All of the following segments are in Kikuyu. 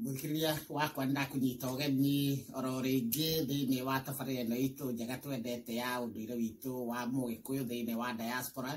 mwĩkĩrĩria wakwa ndakũnyita ũgeni oro rĩngĩ thĩinĩ wa tabarĩra ĩno itũ njega twendete ya ũndũire witũ wa mũgĩkũyũ thĩinĩ wa diaspora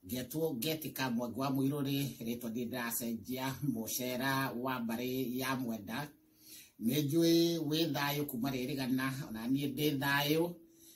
ngetwo ngetĩka mwangi wa mũirũrĩ rĩtwa ndiĩ ndĩracenjia mũcera wa mbarĩ ya mwenda nĩ njũĩ wĩ thayũ kuma rĩrĩgana ona niĩ ndĩ thayũ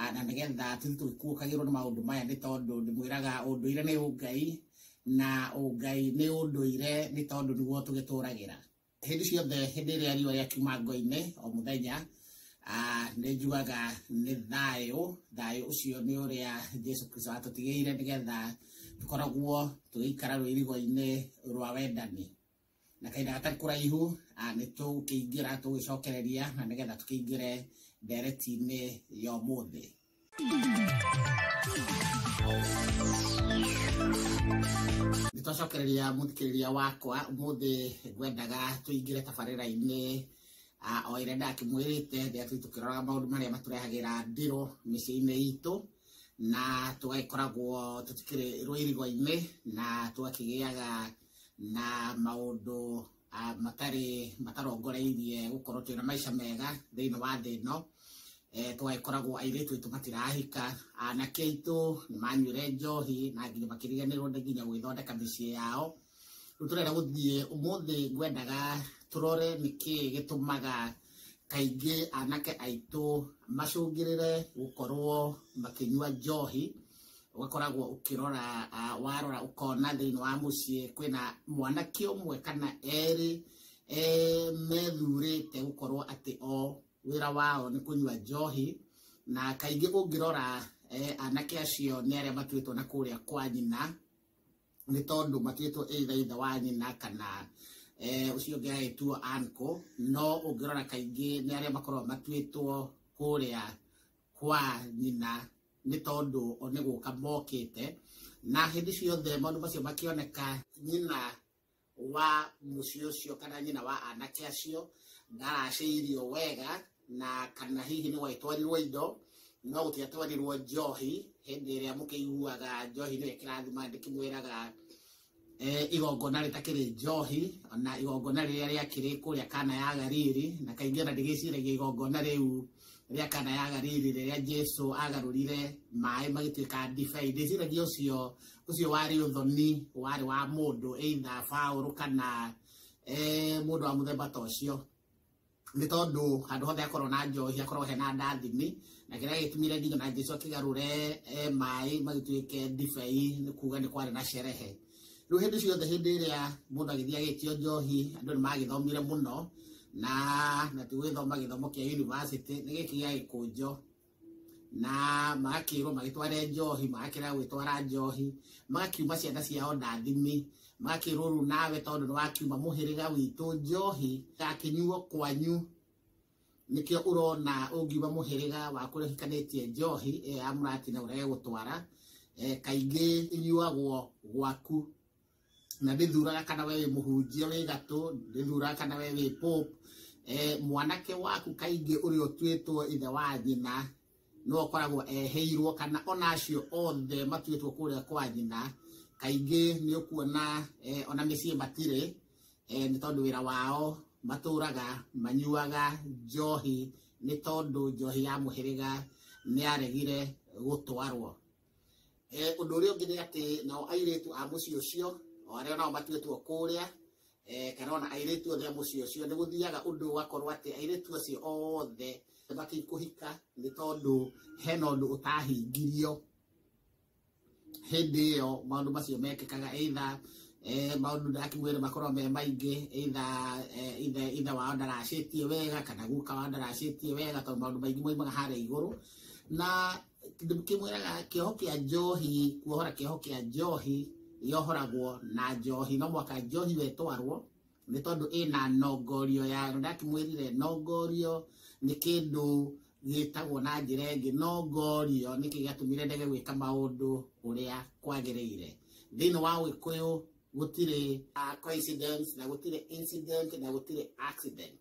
Ah, na nĩgetha tũthiĩ tũgĩkuũkagĩrwo nĩ maũndũ maya nĩ tondũ ndĩmwĩraga ũndũire nĩ ũngai na ũngai nĩ ũndũire nĩ tondũ nĩguo tũgĩtũragĩra hĩndĩ ciothe hĩndĩ ĩrĩa riũa rĩakiuma ngo-inĩ o mũthenya ah, nĩ njugaga nĩ thayũ thayũ ũcio nĩ ũrĩa jesu kristo atũtigĩire nĩgetha tũkoragwo tũgĩikara rũirigo-inĩ rwa wendani na kahinda gatarĩ kũraihu ah, nĩ tũkĩingĩra tũgĩcokereria na nĩgetha tũkĩingĩre ndereti-inĩ ya ũmũthĩ nĩ twacokereria mũthikĩrĩria wakwa ũmũthĩ ngwendaga tũingĩre tabarĩra-inĩ ah, o ĩrĩa ndakĩmwĩrĩte rĩrĩa tũi tũkĩroraga maũndũ marĩa matũrehagĩra ndĩrũ mĩciĩ-inĩ itũ na tũgagĩkoragwo tũtikĩrĩ rũirigo-inĩ na tũgakĩgĩaga na maũndũ ah, matarĩ matarongoreirie gũkorwo twĩna maica mega thĩinĩ wa thĩ ĩno eh, twagĩkoragwo airĩtu aitũ matirahika anake aitũ nĩ manyuire njohi na nginya makĩriganĩrwo nĩ nginya gwĩthondeka mĩciĩ yao rĩu tũrenda gũthiĩ ũmũthĩ ngwendaga tũrore nĩkĩ gĩtũmaga kaingĩ anake aitũ macũngĩrĩre gũkorwo makĩnyua njohi ũgakoragwo ũkĩrora ah, warora ũkona thĩinĩ wa mũciĩ kwĩna mwanake ũmwe kana erĩ eh, methurĩte gũkorwo atĩ o wĩra wao nĩ kũnyua njohi na kaingĩ ũngĩrora eh, anake acio nĩ arĩa matuĩtwo na kũrĩa kwa nyina nĩ tondũ matuĩtwo either ithe wa nyina kana eh, ũcio ũngĩ agĩtuo anko no ũngĩrora kaingĩ nĩ arĩa makoragwo matuĩtwo kũrĩa kwa nyina nĩ tondũ o nĩ gũka mokĩte na hĩndĩ ciothe maũndũ macio makĩoneka nyina wa mũciĩ ũcio kana nyina wa anake acio ndaracĩirio wega na kana hihi nĩ gwagĩtwarirwo indo no gũtiatwarirwo njohi hĩndĩ ĩrĩa mũkĩiguaga njohi nĩyo ĩkĩrathima ndĩkĩmwĩraga eh, igongona rĩtakĩrĩ njohi na igongona rĩrĩa rĩakĩrĩ kũrĩa kana ya Galili na kaingĩ ona ndĩgĩciragia igongona rĩu rĩa kana ya Galili rĩrĩa Jesu agarũrire maĩ magĩtuĩka ndibei ndĩciragia ũcio ũcio warĩ ũthoni warĩ wa mũndũ either Paulo kana eh, mũndũ wa mũthemba ta ũcio nĩ tondũ handũ hothe hakorwo na njohi hakorwo hena ndathimi na kĩrĩa gĩtumire nginya na Jesu akĩgarũre eh, maĩ magĩtuĩke ndibei nĩ kuga nĩ kwarĩ na sherehe rĩu hĩndĩ ciothe hĩndĩ ĩrĩa mũndũ agĩthiĩ agĩtio njohi andũ nĩ magĩthomire mũno na na ti gwĩthoma gĩthomo kĩa yunivasĩtĩ nĩ gĩkĩ gĩa gĩkũnjo na magakĩrwo magĩtware njohi magakĩra gwĩtwara njohi magakiuma ciana ciao ndathime magakĩrwo rĩu nawe tondũ nĩ wakiuma mũhĩrĩga witũ njohi gakĩnyuo kwanyu nĩkĩo ũrona ũngiuma mũhĩrĩga wa kũrĩa ũhikanĩtie njohi ĩyo ya mũratina ũrege gũtwara eh, kaingĩ ĩnyuagwo gwaku na ndĩthuraga kana we wĩ mũhunjia wĩ gatũ ndĩthuraga kana we wĩ pope eh, mwanake waku kaingĩ ũrĩa ũtuĩtwo ithe wa nyina no akoragwo eheirwo kana ona acio othe matuĩtwo kũrĩa kwa nyina kaingĩ nĩ ũkuona eh, ona mĩciĩ matirĩ eh, nĩ tondũ wĩra wao matũraga manyuaga njohi nĩ tondũ njohi ya mũhĩrĩga nĩ yaregire gũtwarwo eh, ũndũ ũrĩa ũngĩ nĩ atĩ nao airĩtu a mũciĩ ũcio o arĩa nao matuĩtwo kũrĩa eh, kana ona airĩtu othe a mũciĩ ũcio nĩ gũthiaga ũndũ ũgakorwo atĩ airĩtu acio othe mabatiĩ kũhika nĩ tondũ hena ũndũ ũtahingirio hĩndĩ ĩyo maũndũ macio mekĩkaga either eh, maũndũ ndakiuga nĩ makorwo me maingĩ either eh, either either wao ndaracĩtie wega kana guka wao ndaracĩtie wega tondũ maũndũ maingĩ moimaga harĩa igũrũ na kĩndũ kĩmwĩraga kĩoho kĩa njohi kuohora kĩoho kĩa njohi yohoragwo na njohi no mwaka njohi we twarwo nĩ tondũ ĩna nongorio ya ndakĩmwĩrire nongorio nĩ kĩndũ gĩtagwo na njĩra ĩngĩ nongorio nĩkĩ gĩatũmire ndege gwĩka maũndũ ũrĩa kwagĩrĩire thĩinĩ wa ũgĩkũyũ gũtirĩ ah, coincidence na gũtirĩ incident na gũtirĩ accident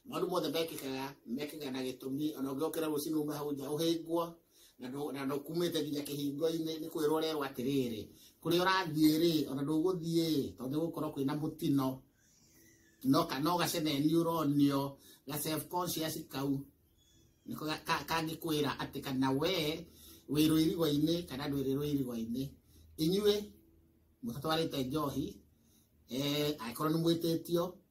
maũndũ mothe mekĩkaga mekĩkaga na gĩtũmi ona ũngĩokĩra rũcinĩ ume hau nja ũhĩngwo na ndũ- na ndũkumĩte nginya kĩhingo-inĩ nĩ kwĩrwo ũrerwo atĩrĩrĩ kũrĩa ũrathiĩ rĩ ona ndũgũthiĩ ĩ, tondũ nĩ gũkorwo kwĩna mũtino no ka- no gaceneni ũronio ga self conscious kau nĩko ga- ka- kangĩkwĩra atĩ kana we wĩ rũirigo-inĩ kana ndwĩrĩ rũirigo-inĩ inyuĩ mũtatwarĩte njohi eh, angĩkorwo nĩ mwĩtĩtio